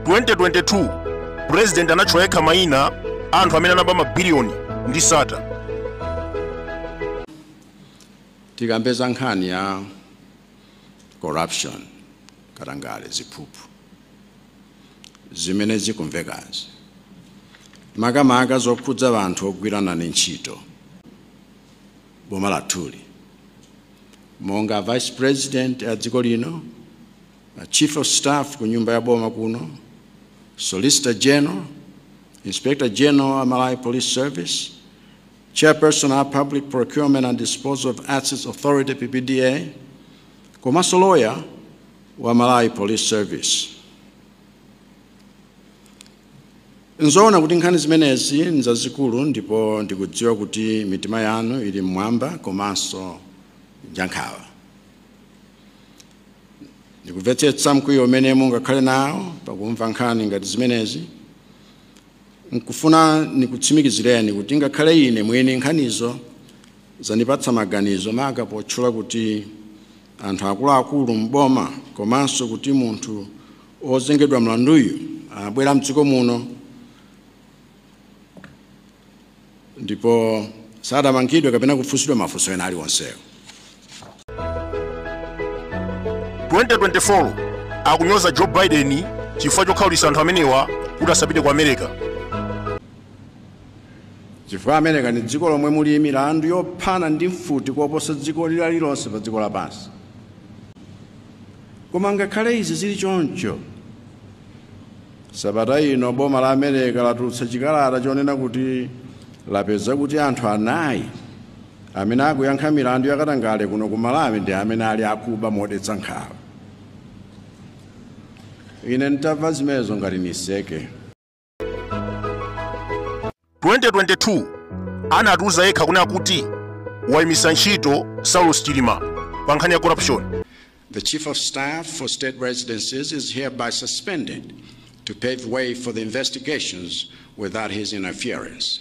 2022 president anatchula yekha mayina a anthu amene anaba mabiliyoni ndi sata tikambe za nkhani ya corruption katangale ziphuphu zimene zikumvekazi makamaka zokhudza anthu ogwirana ndi ntchito boma lathuli. Monga a Vice President a dziko lino, a Chief of Staff ku nyumba ya boma kuno, Solicitor General, Inspector General a Malawi Police Service, Chairperson a Public Procurement and Disposal of Assets Authority PPDA, komanso lawyer wa Malawi Police Service. N'zoona kuti nkhani zimenezi n'zazikulu ndipo ndikudziwa kuti mitima yanu ili m'mwamba komanso njankhawa. Ndikumvetsetsa mkwiyo umene mungakhale nawo pakumva nkhani ngati zimenezi. Nkufuna nikutsimikizireni kuti ngakhale ine mwini nkhanizo zandipatsa maganizo maka potchula kuti anthu akuluakulu m'boma komanso kuti munthu ozengedwa mlanduyu anabwera mdziko muno ndipo sadamangidwe kapena kufunsidwa mafunso ena aliwonsewo. 2024 akunyoza Joe Biden chifukwa chokhaulitsa anthu amenewa kuti asapite ku America. Chifukwa America ndi dziko lomwe muli milandu yophana ndi mfuti koposa dziko lililonse pa dziko lapansi. Koma ngakhale izi zili choncho, sabata ino boma la America latulutsa chikalata chonena kuti lapeza kuti anthu anayi amene akuyankha milandu yakatangale kuno ku Malawi ndi amene ali akuba modetsa nkhawa. Ine ntamva zimenezo ngati niseke. 2022 anatiuza yekha kunena kuti waimisa ntchito saulos chilima pa nkhani ya corruption The Chief of Staff for State Residences is hereby suspended to pave way for the investigations without his interference.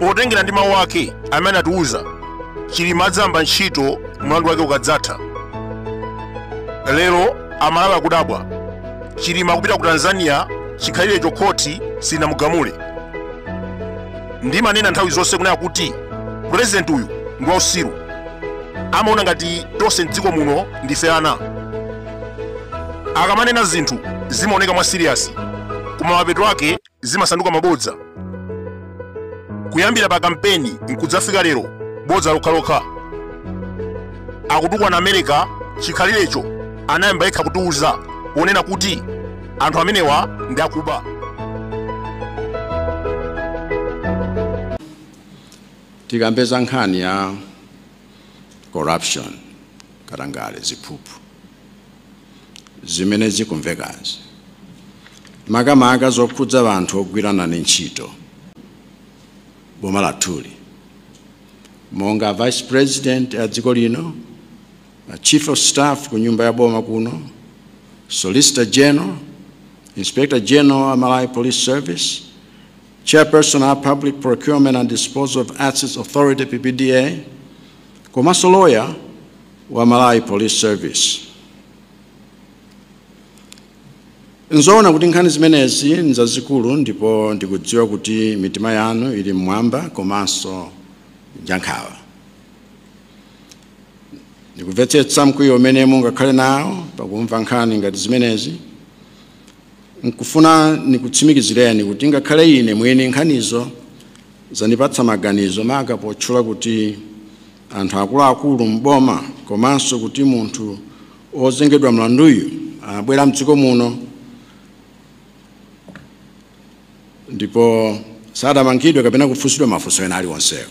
potengera ndi mawu ake amene anatiwuza chilima adzayamba ntchito mlandu wake ukadzatha lero amalawi akudabwa chilima kupita ku tanzania chikhalirecho khoti silinamugamule ndimanena nthawi zonse kunena kuti purezidenti uyu ndi wausiru amaona ngati tonse mdziko muno ndife ana akamanena zinthu zimaoneka mwa siriyasi koma mapeto ake zimasanduka mabodza kuyambira pa kampeni nkudzafika lero bodza lokhalokha akutukwana america chikhalirecho anayamba yekha kutiuza ponena kuti anthu amenewa ndi akuba tikambe za nkhani ya corruption katangale, ziphuphu zimene zikumvekazi, makamaka zokhudza anthu ogwira nane ntchito m'boma lathuli monga vice president a dziko lino a chief of staff ku nyumba ya boma kuno solicitor general inspector general a malawi police service Chairperson a Public Procurement and Disposal of Assets Authority, PPDA, komanso lawyer wa Malawi Police Service. Nzoona kuti nkhani zimenezi nzazikulu ndipo ndikudziwa kuti mitima yanu ili mmwamba komanso njankhawa. Ndikumvetsetsa mkwiyo umene mungakhale nawo pakumva nkhani ngati zimenezi N'kufuna nikutsimikizireni kuti ngakhale ine mwini nkhanizo zanipatsa maganizo, maka potchula kuti anthu akulu-akulu m'boma komanso kuti munthu wozengedwa mlanduyu anabwera m'dziko muno ndipo sadamangidwe kapena kufunsidwa mafunso ena aliwonsewo.